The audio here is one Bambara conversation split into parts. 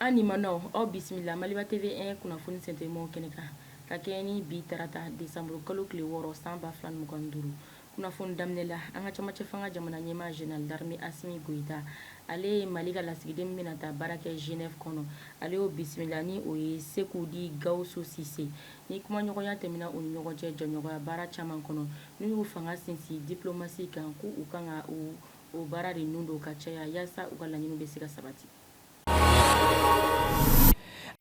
an lamɛnnaw aw bisimila maliba tv 1 kunnafoni se telimanw kɛnɛ kan ka kɛɲɛ ni bi tarata desanburukalo tile wɔɔrɔ san ba fila ni mugan ni duuru kunnafoni daminɛ la an ka camancɛ fanga jamana ɲɛmaa Général d'armée Assimi Goïta, ale ye Mali ka lasigiden min bɛna taa baara kɛ Genève kɔnɔ, ale y'o bisimila ni o ye Sekou dit Gawusu Sise. Ni kumaɲɔgɔnya tɛmɛna u ni ɲɔgɔn cɛ jɛɲɔgɔnya baara caman kɔnɔ, n'u y'u fanga sinsin diplomasi kan, ko u kan ka o baara de nun don ka caya yaasa u ka laɲiniw bɛ se ka sabati.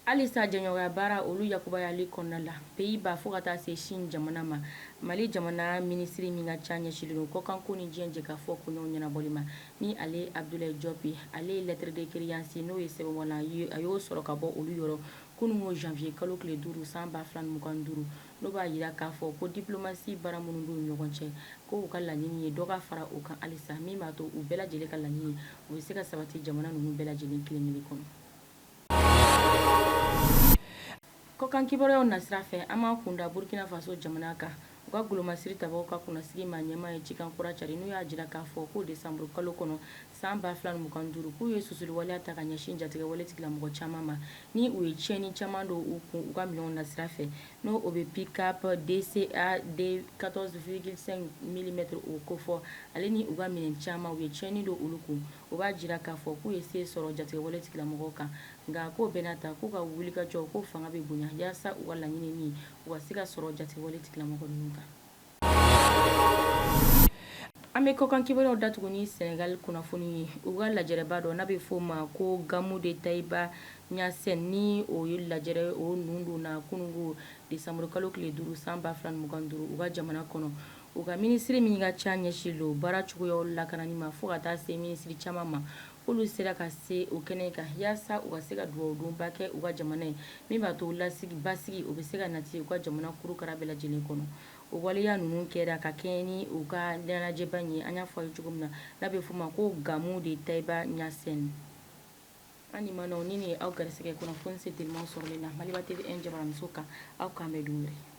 Halisa jɛɲɔgɔnya baara olu yakubayali kɔnɔna la Pays-Bas fo ka taa se Chine jamana ma, Mali jamana minisiri min ka ca ɲɛsinlen don kɔkanko ni diɲɛ jɛkafɔ koɲɛw ɲɛnabɔli ma, ni ale Abudulayi Jɔp, ale ye lettre de créance n'o ye sɛbɛnwalan ye, a y'o sɔrɔ ka bɔ olu yɔrɔ kununko janvier kalo tile duuru san 2025. n'o b'a jira k'a fɔ ko diplomasi baara minnu b'u ni ɲɔgɔn cɛ ko u ka laɲini ye dɔ ka fara u kan halisa min b'a to u bɛɛ lajɛlen ka laɲini o bɛ se ka sabati jamana ninnu bɛɛ lajɛlen kelen-kelen kɔnɔ kɔkan kibaruyaw nasira fɛ an b'an kun da burkina faso jamana kan u ka golomasiri tabaaw ka kunnasigi ma ɲɛmaa ye cikan kura cari n'u y'a jira k'a fɔ ko desanburukalo kɔnɔ san 2025 k'u ye susuli waleya ta ka ɲɛsin jatigɛwale tigilamɔgɔ caman ma ni u ye tiɲɛni caman don u kun u ka minɛnw nasira fɛ n'o o bɛ pick-up DCA de 14,5 mm o kofɔ ale ni u ka minɛn caman u ye tiɲɛni don olu kun o b'a jira k'a fɔ k'u ye se sɔrɔ jatigɛwale tigilamɔgɔw kan nka k'o bɛɛ n'a ta k'u ka wulikajɔ k'o fanga bɛ bonya yaasa u ka laɲini min u ka se ka sɔrɔ jatigɛwale tigilamɔgɔ ninnu kan. An bɛ kɔkan kibaruyaw datugu ni Senegal kunnafoni ye, u ka lajɛrɛba dɔ n'a bɛ f'o ma ko Gamou de Taïba Niassène ni o ye lajɛrɛ, o nun donna kununko desanburukalo tile 5 san 2025 u ka jamana kɔnɔ, u ka minisiri min ka ca ɲɛsinlen don baara cogoyaw lakanani ma fo ka taa se minisiri caman ma K'olu sera ka se o kɛnɛ kan yaasa u ka se ka dugawudonba kɛ u ka jamana ye min b'a to lasigi basigi o bɛ se ka nati u ka jamana kurukara bɛɛ lajɛlen kɔnɔ o waleya ninnu kɛra ka kɛɲɛ ni u ka ɲɛnajɛba in ye an y'a fɔ aw ye cogo min na n'a bɛ f'o ma ko gamou de taïba niassène an lamɛnnaw ni nin ye aw garisigɛ kunnafoni se teliman sɔrɔli la maliba tv 1 jabaraninso kan aw k'an bɛn don wɛrɛ